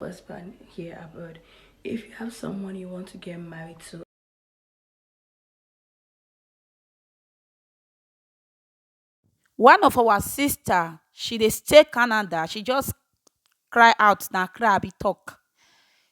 husband here abroad if you have someone you want to get married to one of our sister she dey stay canada she just cry out na cry i be talk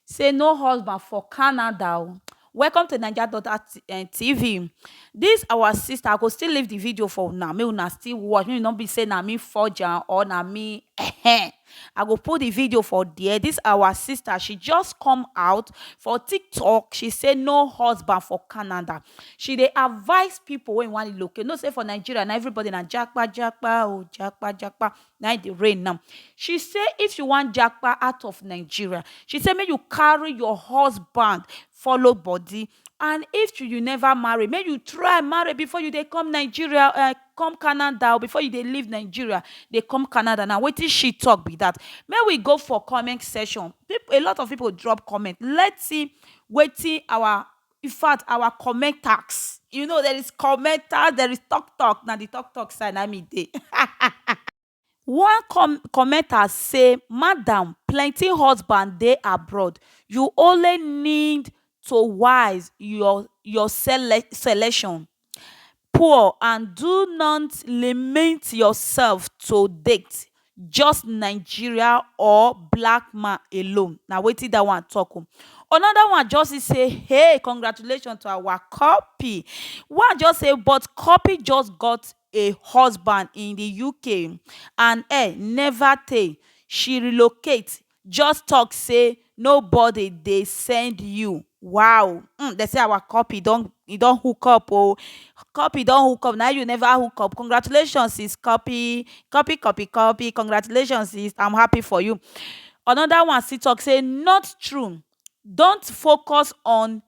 say no husband for canada o Welcome to naija daughter TV this our sister I go still leave the video for una make una still watch make e no be say na me forge am or na me ehen I go put the video for there this our sister she just come out for tiktok she say no husband for Canada she dey advice people wey wan relocate you know say for Nigeria na everybody na japa japa oh japa japa na im dey reign now. She say if you wan japa out of Nigeria, she say make you carry your husband follow body and if you you never marry, make you try marry before you dey come Nigeria um come Canada o, before you dey leave Nigeria dey come Canada, na wetin she talk be that. Make we go for comment section, a lot of people drop comment, let's see wetin our In fact our comment task you know there is comment task there is talk talk na the talk talk side na me dey one com comment task say madam plenty husband dey abroad you only need to wise your your sele selection poor and do not limit yourself to date just Nigeria or black man alone na wetin dat one talk oo another one just see say hey congratulations to our cuppy one just say but cuppy just got a husband in the UK and eh never tey she relocate just talk say nobody dey send you wow um dem say our copy don e don hook up oh copy don hook up na you never hook up congratulations sis copy copy copy copy congratulations sis I'm happy for you another one still talk say not true don't focus on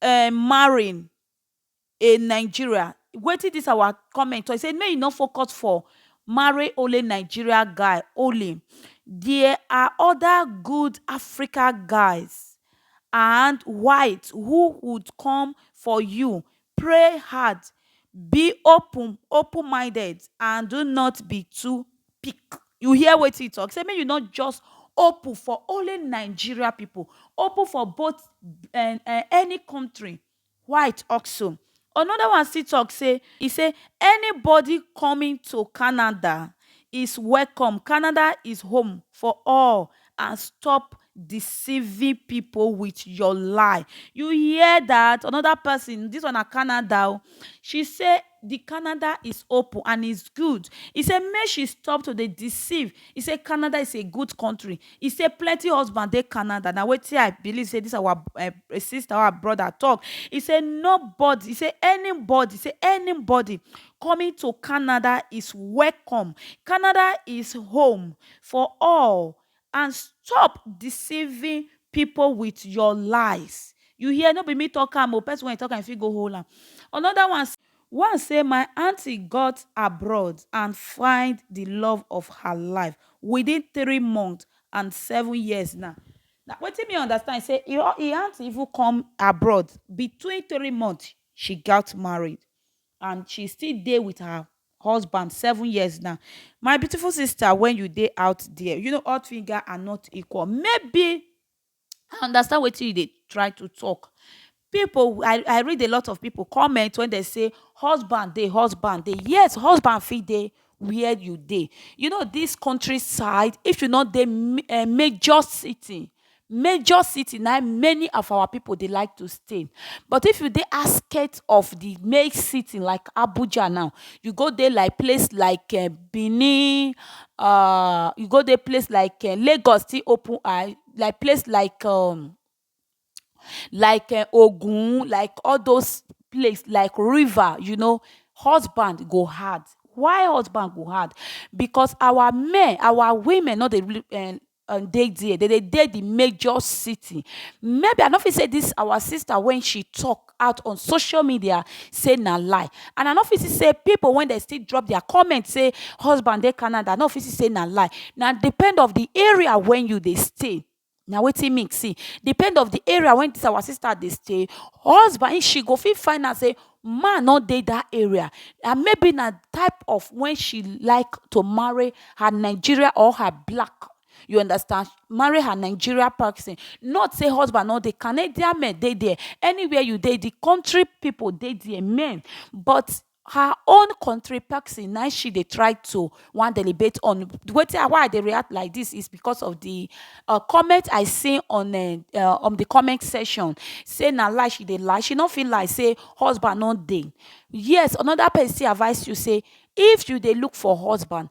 um marrying a Nigeria wetin this our comment talk e say make you no focus for marry only Nigeria guy only there are other good Africa guys and white who would come for you pray hard be open open minded and do not be too pick you hear wetin he talk say make you no just open for only Nigeria people open for both any country White also anoda one still tok say e say anybodi coming to Canada is welcome, Canada is home for all and stop deceiving pipo wit your lie. You hear dat, anoda pesin, dis one na Canada o, she say Di Canada is open and is good. E say make she stop to dey deceive. E say Canada is a good country. E say plenty husband dey Canada. Na wetin I believe say dis our sister or our brother talk. E say nobody, e say anybody, e say anybody coming to Canada is welcome. Canada is home for all And stop deceiving people with your lies. You hear, no be me talk am o, person wey talk am e fit go hold am. Another one. One say my aunty got abroad and find the love of her life within three months and seven years na. Na wetin me understand say e aunty even come abroad between three months she got married. and she still dey with her husband seven years now my beautiful sister when you dey out there you know all finger are not equal maybe i understand wetin you dey try to talk people i i read a lot of people comment when they say husband dey husband dey yes husband fit dey where you dey. You know dis country side if you no dey um major city, major city na im many of our pipu dey like to stay. But if you dey outskirt of de main city like Abuja now, you go dey like place like um Benin, um you go dey place like um Lagos still open eye, like place like um like um ogun like all those place like river you know husband go hard why husband go hard because our men our women no dey really um um dey there dem dey dey the major city maybe i no fit say this our sister when she talk out on social media say na lie and i no fit see say people wey dey still drop their comment say husband dey Canada i no fit see say na lie na depend of the area wey you dey stay na wetin me see depend of the area wey this our sister dey stay husband if she go fit find out say man no dey that area and maybe na type of when she like to marry her Nigeria or her black you understand marry her Nigeria person not say husband no dey Canadian men dey there anywhere you dey the country people dey there men but her own country person na she dey try to wan deliberate on wetin why I dey react like this is because of the uh comment I see on uh on the comment section say na lie she dey lie she no fit lie say husband no dey yes another person still advice you say if you dey look for husband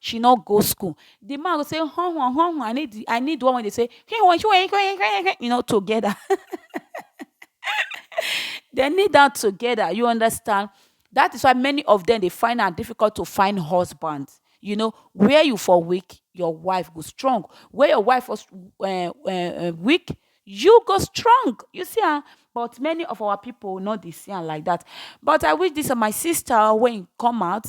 she no go school the man go say huh huh huh huh I need the I need the one wey dey say you know together they need them together you understand that is why many of them dey find am difficult to find husband you know where you for weak your wife go strong where your wife for um um weak you go strong you see am but many of our people no dey see am like that but I wish this my sister wey e come out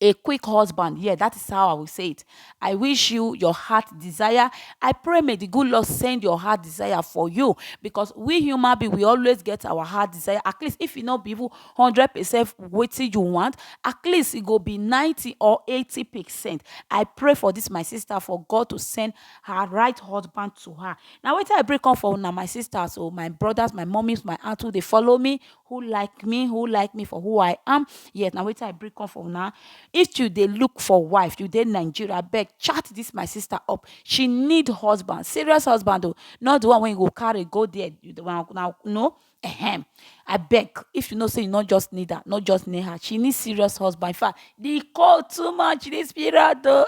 a quick husband yeah that is how I will say it I wish you your heart desire I pray may the good Lord send your heart desire for you because we human being we always get our heart desire at least if you e not be even hundred percent waiting you want at least it e go be ninety or eighty percent I pray for this my sister for God to send her right husband to her now wait till I break up for now my sisters or oh, my brothers my mummies my aunts who they follow me who like me who like me for who i am yes na wetin i bring come for una if you dey look for wife you dey nigeria abeg chat this my sister up she need husband serious husband o not the one wey you go carry go there you the one na no ehem abeg if you know say you no just need her no just need her she need serious husband in fact the cold too much this period o.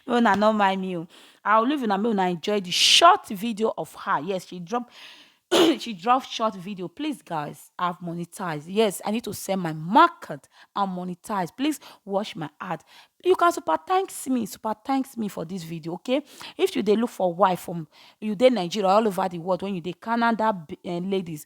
Make una no mind me o. I will leave una make una enjoy the short video of her. Yes, she dropped she dropped short video. Please, guys, I've monetized. Yes, I need to sell my market and monetize. Please watch my ad. You can super thanks me, super thanks me for this video, okay? If you dey look for wife from you dey Nigeria all over the world when you dey Canada uh, ladies,